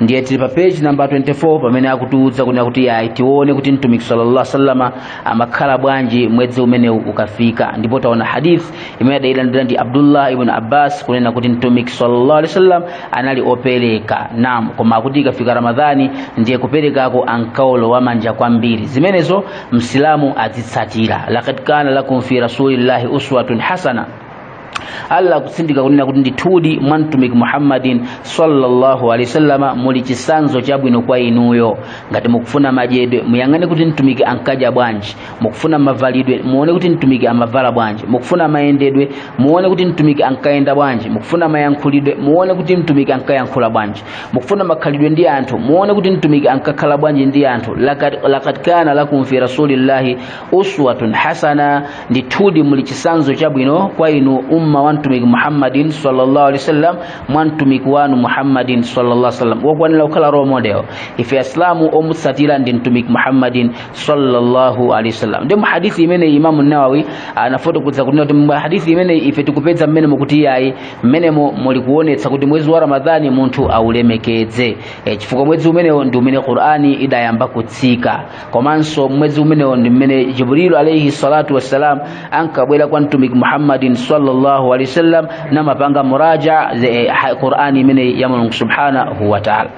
ndiye tili pa page namba 24 pamene akutiuza kunena kuti yayi tione kuti mtumiki sallallahu alaihi wasallama amakhala bwanji mwezi umenewu ukafika ndipo taona hadith imene adailandira ndi abdullah ibn abbas kunena kuti mtumiki sallallahu alaihi wasallam anali opereka nam koma akuti ikafika ramadhani ndiye kuperekako ankaolowa manja kwambiri zimenezo msilamu azitsatira lakad kana lakum fi rasulillahi uswatun hasana allah akutsindika kunena kuti ndithudi mwa mtumiki muhammadin sallallahu alaihi wasallama muli chisanzo chabwino kwa inuyo ngati mukufuna madyedwe muyang'ane kuti mtumiki ankadya bwanji mukufuna mavalidwe muone kuti mtumiki amavala bwanji mukufuna mayendedwe muone kuti mtumiki ankayenda bwanji mukufuna mayankhulidwe muone kuti mtumiki ankayankhula bwanji mukufuna makhalidwe ndi anthu muone kuti mtumiki ankakhala bwanji ndi anthu lakad lakad kana lakum fi rasulillahi uswatun hasana ndithudi muli chisanzo chabwino kwa inu umma wa mtumiki muhammadin sallallahu alaihi wasallam mwa mtumiki wanu muhammadin sallallahu alaihi wasallam wokwanera kukhala role model ife asilamu omutsatira ndi mtumiki muhammadin sallallahu alaihi wasallam ndi muhadithi imene imamu nawawi anafotokoza kunena kuti muhadithi imene ife tikupeza mmenemo kuti iyayi mmenemo muli kuonetsa kuti mwezi wa ramadhani munthu aulemekedze e, chifukwa mwezi umenewo ndi umene qur'ani idayamba kutsika komanso mwezi umenewo ndi mmene jibrilu alaihi salatu wassalam ankabwera kwa mtumiki muhammadin sallallahu alaihi wasallam namapanga muraja'a qur'ani imene ya mulungu subhanahu wa ta'ala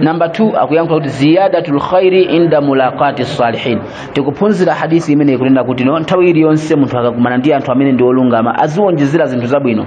namba 2 akuyankhula kuti ziyadatul khairi inda mulaqati salihin tikuphunzira hadisi imeneyi kunena kuti no nthawi iliyonse munthu akakumana ndi anthu amene ndi olungama aziwonjezera zinthu zabwino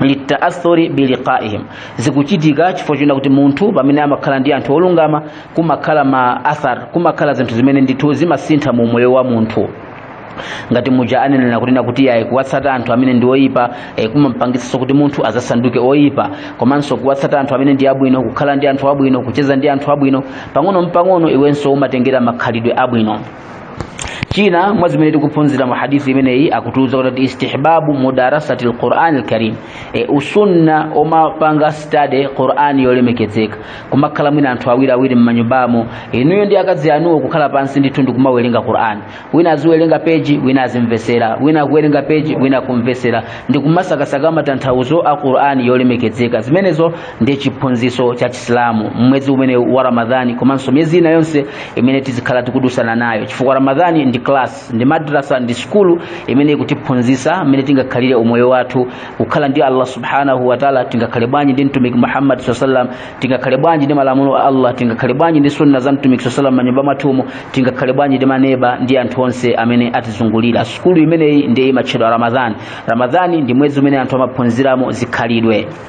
litaathuri biliqaihim zikuchitika chifukwa chonena kuti munthu pamene amakhala ndi anthu olungama kumakhala ma athar kumakhala zinthu zimene ndithu zimasintha mu umoyo wa munthu ngati muja anenera kunena kuti yayi kuwatsata anthu amene ndi oyipa eh, kumampangitsanso kuti munthu azasanduke oyipa komanso kuwatsata anthu amene ndi abwino kukhala ndi anthu abwino kucheza ndi anthu abwino pang'ono mpang'ono iwenso umatengera makhalidwe abwino china mwa zimene tikuphunzira mu hadithi imeneyi akutiuza kuti istihbabu mudarasati lqurani lkarim e, usunna umapanga study qurani yolemekezeka kumakhala mwina anthu awiri awiri mmanyumbamo inuyo ndi akazi anuwo kukhala pansi ndithu ndi kumawerenga qurani wina aziwerenga peji wina azimvesera wina akuwerenga peji wina akumvesera ndi kumasakasaka matanthauzo a qurani yolemekezeka zimenezo ndi chiphunzitso cha chisilamu mmwezi umene wa ramadhani komanso miyezi ina yonse imene tizikhala tikudusana nayo chifukwa ramadhani ndi class ndi madrasa ndi sukulu imene ikutiphunzitsa mmene tingakhalire umoyo wathu kukhala ndi allah subhanahu wataala tingakhale bwanji ndi mtumiki muhammad saa salam tingakhale bwanji ndi malamulo a allah tingakhale bwanji ndi sunna za mtumiki saa salam mmanyumba mwathumo tingakhale bwanji ndi maneba ndi anthu onse amene atizungulira sukulu imeneyi ndiye imatchedwa ramadhani ramadhani ndi mwezi umene anthu amaphunziramo zikhalidwe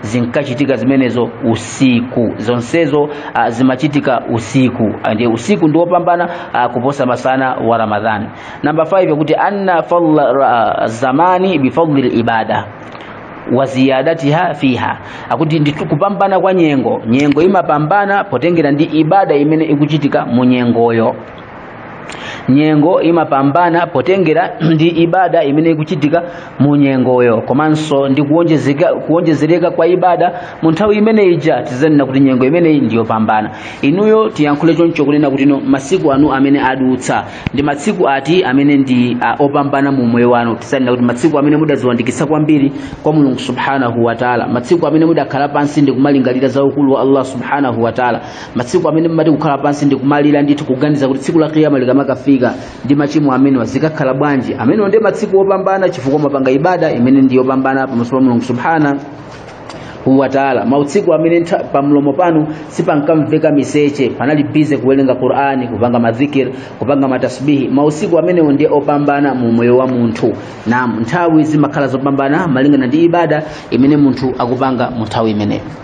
zinkachitika zimenezo usiku zonsezo uh, zimachitika usiku ndiye usiku ndi wopambana uh, kuposa masana wa ramadhani namba 5 yakuti anna fadla uh, zamani bifadli libada wa ziyadatiha fiha akuti ndi kupambana kwa nyengo nyengo imapambana potengera ndi ibada imene ikuchitika mu nyengoyo nyengo imapambana potengera ndi ibada imene ikuchitika mu nyengoyo komanso ndi kuwonjezereka kwa ibada mu nthawi imene ija tizanena kuti nyengo imeneyi ndiyopambana inuyo tiyankhule chonchi kunena kuti masiku anu amene adutsa ndi masiku ati amene ndi uh, opambana mu moyo wanu tizanena kuti masiku amene mudaziwandikisa kwambiri kwa mulungu subhanahu wa taala masiku amene mudakhala pansi ndi kumalingalira za ukulu wa allah subhanahu wa taala matsiku amene mumati kukhala pansi ndi kumalira ndithu kuganiza kuti tsiku la kiyama likamakafika ndi machimo amenewa zikakhala bwanji amenewa ndi matsiku opambana chifukwa mumapanga ibada imene ndi yopambana pamaso pa mulungu subhana wa taala mautsiku amene ntha- pamlomo panu sipankamveka miseche panali bize kuwerenga qurani kupanga madhikir kupanga matasbihi mausiku amenewo ndiye opambana mu moyo wa munthu naam nthawi zimakhala zopambana malingana ndi ibada imene munthu akupanga mu nthawi imeneyo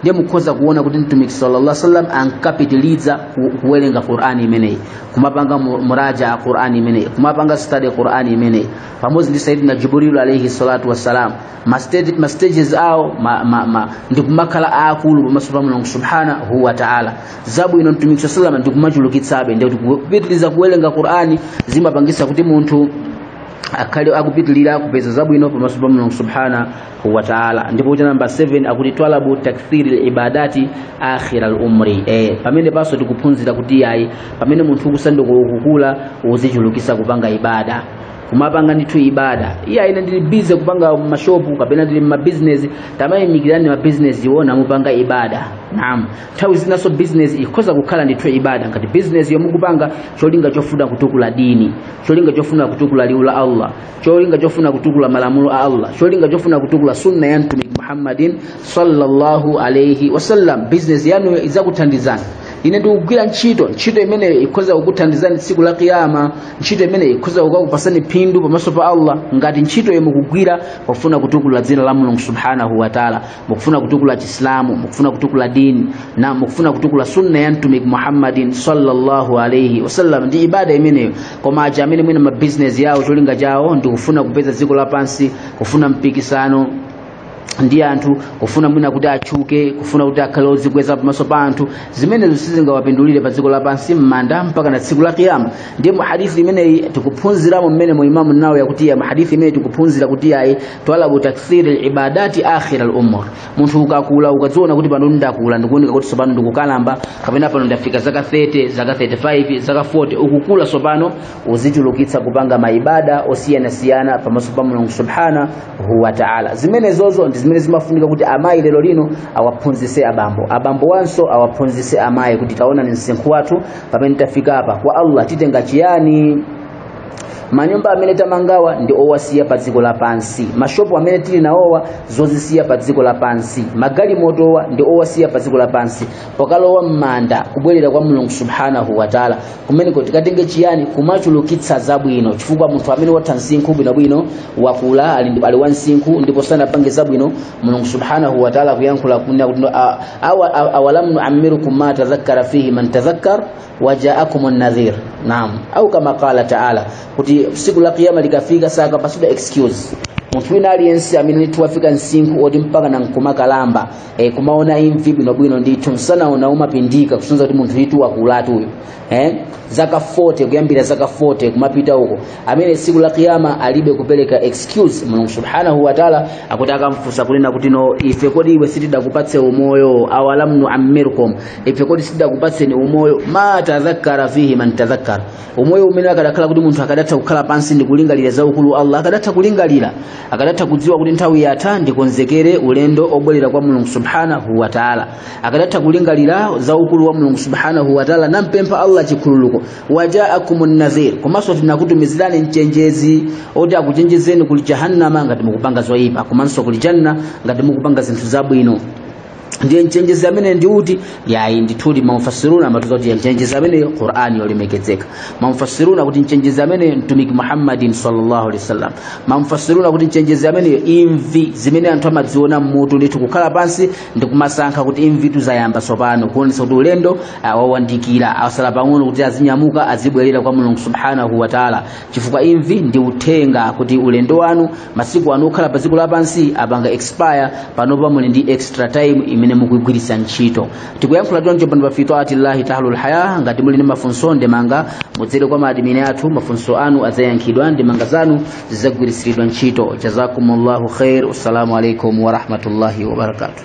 ndiye mukhoza kuona kuti mtumiki sallallahu alaihi wasallam ankapitiliza ku- kuwerenga qur'ani imeneyi kumapanga mu- muraja'a qur'ani imeneyi kumapanga study qur'ani imeneyi pamodzi ndi sayyidina jibrilu alaihi salatu wassalam ma stage- ma stages awo ma, ma, ma, ndi kumakhala aakulu pamaso pa mulungu subhanahu wa ta'ala zabwino mtumiki sallallahu alaihi wasallam ndi kumachulukitsabe ndi kuti kupitiliza kuwerenga qur'ani zimapangisa kuti munthu akhale akupitilira kupeza zabwino pamaso pa mulungu subhanahu wa taala ndipo kuti namba 7 akuti twalabu takthiri libadati akhira lumri eh, pamenepaso tikuphunzira kuti ayi pamene munthu ukusanduka ukukula uzichulukisa kupanga ibada kumapanga ndithu ibada iyayi ine ndili bize kupanga mashopu kapena ndili mmabizinesi tamayimikirani mabizinesi wo na mupange ibada naam nthawi zinaso bizinesi ikhoza kukhala ndithu ibada ngati bizinesi yo mukupanga cholinga chofuna kutukula dini cholinga chofuna kutukula liwu la allah cholinga chofuna kutukula malamulo a allah cholinga chofuna kutukula sunna ya mtumiki muhammadin sallallahu alaihi wasallam bizinesi yanu idzakuthandizani ine ndikugwira ntchito ntchito imeneyo ikhoza kukuthandizani tsiku la kiyama ntchito imeneyo ikhoza kukakupatsani phindu pamaso pa allah ngati ntchito yo mukugwira pofuna kutukula dzina la mulungu subhanahu wataala mukufuna kutukula chisilamu mukufuna kutukula dini na mukufuna kutukula sunna ya mtumiki muhammadin sallallahu alaihi wasallam ndi ibada imeneyo koma aja amene mwina mabizinesi yawo cholinga chawo ndi kufuna kupeza dziko lapansi kufuna mpikisano ndi anthu kufuna mwina kuti atchuke kufuna kuti akhale odzikweza pamaso pa anthu zimenezo sizingawapindulire pa dziko lapansi m'manda mpaka na tsiku la kiyama ndiye mu hadithi imeneyi tikuphunziramo mmene mu imamu nawawi akuti ya mu hadithi imeneyi tikuphunzira kuti ayi twalabu takthiri libadati akhira lumur munthu ukakula ukadziona kuti pano ndakula ndikuoneka kuti tsopano ndikukalamba kapena pano ndafika zaka 30 zaka 35 zaka 40 ukukula tsopano uzichulukitsa kupanga maibada osiyanasiyana pamaso pa mulungu subhanahu wa taala zimenezozo ndi zimene zimafunika kuti amayi lero lino awaphunzise abambo abambo wanso awaphunzise amayi kuti taonani msinkhu wathu pamene tafika apa kwa allah titenga chiyani manyumba amene tamangawa ndi owasiya pa dziko lapansi mashopu amene tili nawowa zozisiya pa dziko lapansi magalimotowa ndi owasiya pa dziko lapansi pokalowa m'manda kubwerera kwa mulungu subhanahu wataala kumeneko tikatenge chiyani kumachulukitsa zabwino chifukwa munthu amene watha msinkhu bwinobwino wakula ali, ndi- ali wa msinkhu ndipo sanapange zabwino mulungu subhanahu wataala akuyankhula kunena kuti "A- awa- a- awalamu nuamirukum ma tadhakkara fihi man tadhakkar wajaakumun nadhir naam au kama qala taala kuti siku la kiyama likafika sakapatsidwa excuse munthu wina aliyense amene ndithu wafika msinkhu oti mpakana nkumakalamba e, kumaona imvi bwinobwino ndithu msanawo umapindika kusonyeza kuti munthu ndithu wakulatu uyu eh? zaka 40 kuyambira zaka 40 kumapita uko amene tsiku la kiyama alibe kupereka excuse mulungu subhanahu wa taala akuti akamfunsa kunena kuti no ife kodi iwe sitidakupatse umoyo awalam nuammirkum ife kodi sitidakupatseni umoyo ma tadhakkara fihi man tadhakkara umoyo umene akadakhala kuti munthu akadatha kukhala pansi ndi kulingalira za ukulu wa allah akadatha kulingalira akadatha kudziwa kuti nthawi yatha ndikonzekere ulendo obwerera kwa mulungu subhanahu wa taala akadatha kulingalira za ukulu wa mulungu subhanahu wa taala nampempha allah chikhululuko wajaakum nadhir komanso tinakutumizirani mchenjezi oti akuchenjezeni kuli jahannama ngati mukupanga zoyipa komanso kuli janna ngati mukupanga zinthu zabwino ndiye mchenjezi ameneyu ndi uti yayi ndithudi mamufasiruna amatiuza kuti mchenjezi amene qur'ani yolemekezeka mamufasiruna kuti mchenjezi amene mtumiki muhammadin sallallahu alaihi wasallam mamufasiruna kuti mchenjezi amene imvi zimene anthu amaziona mmutu ndithu kukhala pansi ndi kumasankha kuti imvitu zayamba tsopano kuonesa kuti ulendo wawandikira asala pang'ono kuti azinyamuka azibwerera kwa mulungu subhanahu wataala chifukwa imvi ndi uthenga kuti ulendo wanu masiku anu okhala pa dziko lapansi apanga expire panopa muli ndi extra time imene mukuigwiritsa ntchito tikuyankhula choncho pano pa fi taati llahi tahlul haya ngati muli ndi mafunso ndemanga mudzere kwa maadimini athu mafunso anu adzayankhidwa ndemanga zanu zidzagwiritsidwa ntchito jazakumullahu khair assalamu alaikum warahmatullahi wabarakatuh